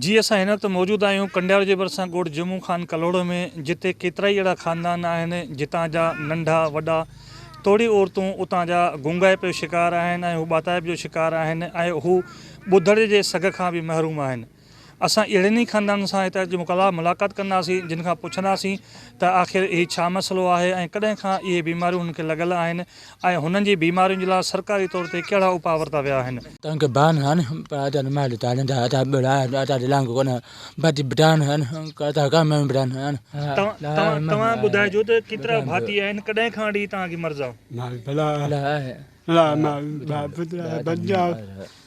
جي اسان هن وقت موجود آهيون ڪنڊيار جي ڀرسان ڳوٺ جمعو خان ڪلهوڙو ۾ جتي ڪيترائي اهڙا خاندان آهن جتان جا ننڍا وڏا توڙي عورتون اتان جا گونگائپ جو شڪار آهن ۽ هو ٻاتائپ جو شڪار آهن ۽ هو ٻڌڻ جي سگهه کان به محروم آهن. اسان اهڙن ئي خاندانن سان هت اچي ملاقات ڪنداسين جن کان پڇنداسين ته آخر هي ڇا مسئلو آهي ۽ ڪڏهن کان اهي بيماريون هنن کي لڳل آهن ۽ هنن جي بيمارين جي لاء سرڪاري طور تي ڪهڙا اپاء ورتا ويا آهن. تنگ بان هن پر ادا نه مال تان نه ادا بڙا ادا دلانگ ڪونه بد بڊان هن ڪرتا ڪا مين بڊان هن. توهان توهان ٻڌائجو ته ڪيترا ڀاتي آهن ڪڏهن کان اڙي توهان کي مرض آ. مال بلا آهي بلا مال ڀاء پترا بنجا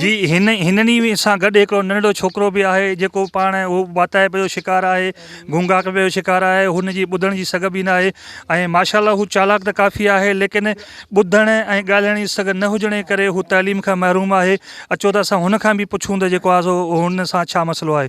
جي هن هنن ئي سان گڏ هڪڙو ننڍڙو ڇوڪرو به آهي جيڪو پاڻ اهو واتائپ جو شڪار آهي گونگاڪڙ جو شڪار آهي هن جي ٻڌڻ جي سگهه به ناهي ۽ ماشاء الله هو چالاڪ ته ڪافي آهي ليڪن ٻڌڻ ۽ ڳالهائڻ جي سگهه نه هجڻ جي ڪري هو تعليم کان محروم آهي اچو ته اسان هن کان به پڇون ته جيڪو آهي سو هن سان ڇا مسئلو آهي.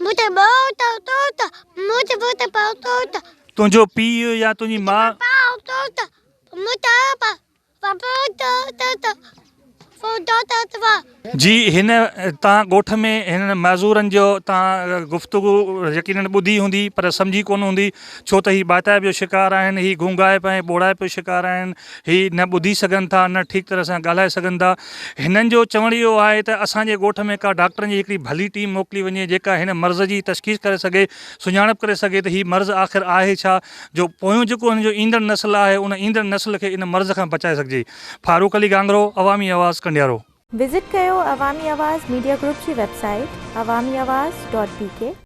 مونکي ٻوٽ ٽوٽ مونکي ٻوٽ پاء ٽوٽ. تنهنجو پيء يا تنهنجي ماء. مونکي پاء ٽوٽ مونکي پاء ٽوٽ ٽوٽ ٽوٽ ٽوٽ ٽوٽ. جي هن تان ڳوٺ ۾ هنن معذورن جو تان گفتگو يقينن ٻڌي هوندي پر سمجهي ڪونه هوندي ڇو ته هي ٻاتائپ جو شڪار آهن هي گونگائپ ۽ ٻوڙائپ جو شڪار آهن هي نه ٻڌي سگهن ٿا نه ٺيڪ طرح سان ڳالهائي سگهن ٿا هنن جو چوڻ اهو آهي ته اسان جي ڳوٺ ۾ ڪا ڊاڪٽرن جي هڪڙي ڀلي ٽيم موڪلي وڃي جيڪا هن مرض جي تشخيص ڪري سگهي سڃاڻپ ڪري سگهي ته هي مرض آخر آهي ڇا جو پويون جيڪو هن جو ايندڙ نسل آهي ان ايندڙ نسل کي ان مرض کان بچائي سگهجي فاروق علي گانگرو عوامي آواز ڪنڊيارو. وزٽ ڪيو عوامي آواز ميڊيا گروپ جي website Awami Awaz dot بي ڪي.